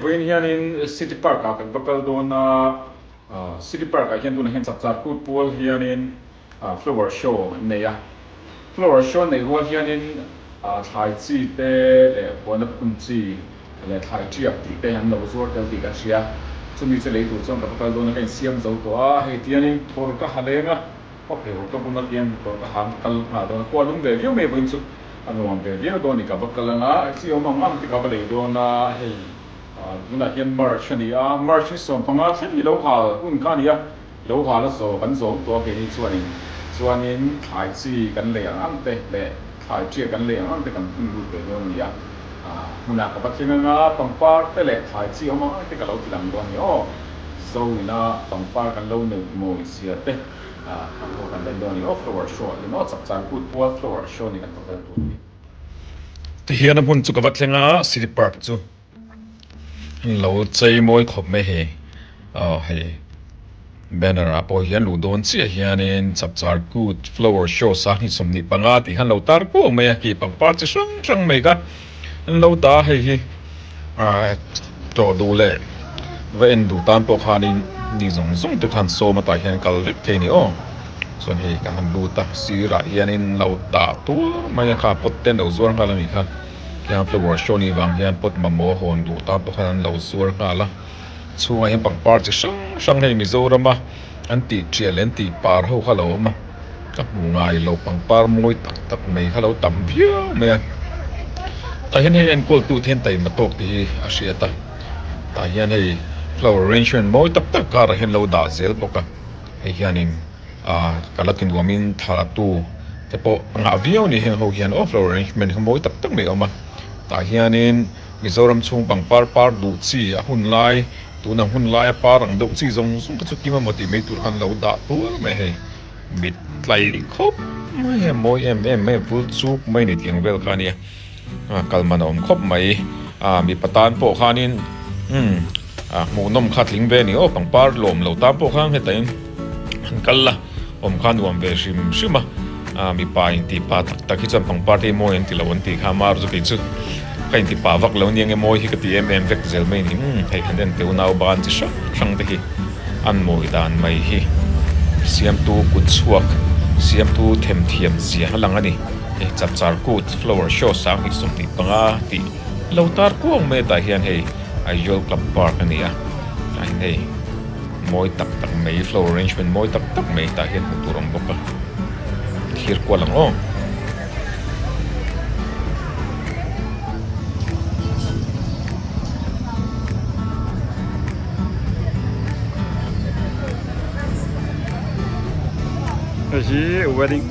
Vawiin hianin City Park ah kan va kal dawn a, City Park ah hian tunah hian chak tlar put pual hianin Flower Show an nei a, Flower Show neih rual hianin thlai chi te leh huana pathum chi leh thlai tiak tih te an lo zuar tel tih ka hria, chumi chu lei tur chuan ka va kal dawn a ka insiam zo tawh a, hei tianin thawr ka ha leng a. Khaw phei ho ka bun atia ni tawh ka hang kal nghal dawn a khua lum ve viau mai vawiin chu a nuam ve viau dawn a ni ka va kal anga exit awm ang ang te ka va lei dawn a hei tunah hian march a ni a march ni sawm hmanga thleng hi lo hal hun kha a ni a lo hal a zawh kan zawm tawh a ke hi chuan in chuan in thlai chi kan lei ang ang te leh Thlai chiah kan leh ang ang te kan hung lut ve dawn a ni a, hmunah ka va thleng ang a, pangpar te leh thlai chi awm ang ang te ka lo ti lang dawn a ni aw, zo ina pangpar kan lo neih mawi zia te a hmuh kan dawn dawn a ni aw, flower show ah hian aw chak chan put pawha flower show ni kan thawk vel tur a ni. Tihian a hmun chu ka va thleng a, City Park chu. Heng lo chei mawi khawp mai hi aw hei banner ah pawh hian luh dawn chiah hianin chapchar kut flower show sanghnih sawmhnih panga tih khan lo tar puau mai a hei pangpar chi hrang hrang mai kha an lo ta a hei hi aaa tawh duh leh va en duh tan pawh khanin mi zawng zawng te khan sawm atah hian kal vek thei ni aw chuan hei ka han lut a sirah hianin lo tah tuar mai a kha pot te an lo zuar nghal a ni kha. Heng flower show nih vang hian pot mamawh hawn duh tan pawh khan an lo zuar nghal a chhungah hian pangpar chi hrang hrang hei Mizorama an tih tial leh an tih par ho kha lo awm a ka hmu ngai lo pangpar mawi tak tak mai kha lo tam viau mai a tah hian hei enkawl tute hian taima tawk tih hi a hriat a tah hian hei flower arrangement mawi tak tak karah hian an lo dah zel bawk a hei hianin. Ahh ka la ti nuam in tha tu te pawh a ngah viau a ni heng ho hian awflow arrangement hi mawi tak tak mai a awm a tah hian in Mizoram chhung pangpar par duh chi a hun lai tun an hun lai a par ang deuh chi zawng zawng te chu tima maw tih mai tur khan lo dah tuar mai hei mit tlai khawp mai a mawi em em mai a vul chuk mai a ni tih ang vel kha a nia. A kal man a awm khawp mai. A mipa tan pawh khanin umm a hmuhnawm kha tling ve ni aw pangpar lawm lo tan pawh khan heta in an kal a awm kha nuam ve hrim hrim a. A mipa in tih pa tak tak hi chuan pangpar te i mawi an ti lo an tih kha amah rutu kei chu ka in ti pa vak lo nia eng nge mawi hi ka ti em em vek zel mai ni umm hei khan en teu nau ban chi hrang hrang te hi an mawi dan mai hi siamtu kut chhuak siamtu themthiam zia a lang a ni. Hei chap char kut flower show sang hnih sum hnih panga tih lo tar kuang mai atah hian hei Aizawl club park a ni a tlaiin hei mawi tak tak mai flower arrangement mawi tak tak mai tah hian hmuh tur a awm bawk a thir kual ang aw. Hei hi wedding--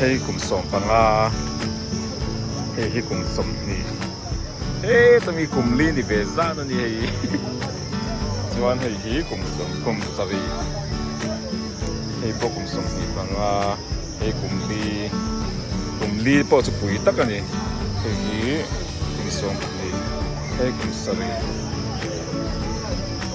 Hei kum sawm panga hei hi kum sawm hni he chumi kum li ni ve zan a ni hei hi chuan hei hi kum sawm kum sarih hei pawh kum sawm hnih panga hei kum li kum li pawh chu pui tak a ni hei hi kum sawm hnih hei kum sarih.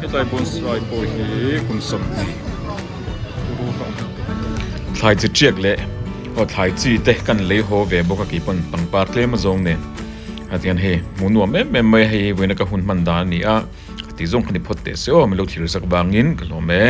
Hetlai bonsai pawh hi kum sam chi uru hlawm hnu. Thlai chi tiak leh aw thlai chi te kan lei haw ve bawk a kei pawn pangpar tlem a zawng nen a tiang hei hmu nuam em em mai hei vawiina ka hun hman dan a ni a ka tih zawng ka ni phawt teh se aw milo thlir zak vangin ka hlawm e.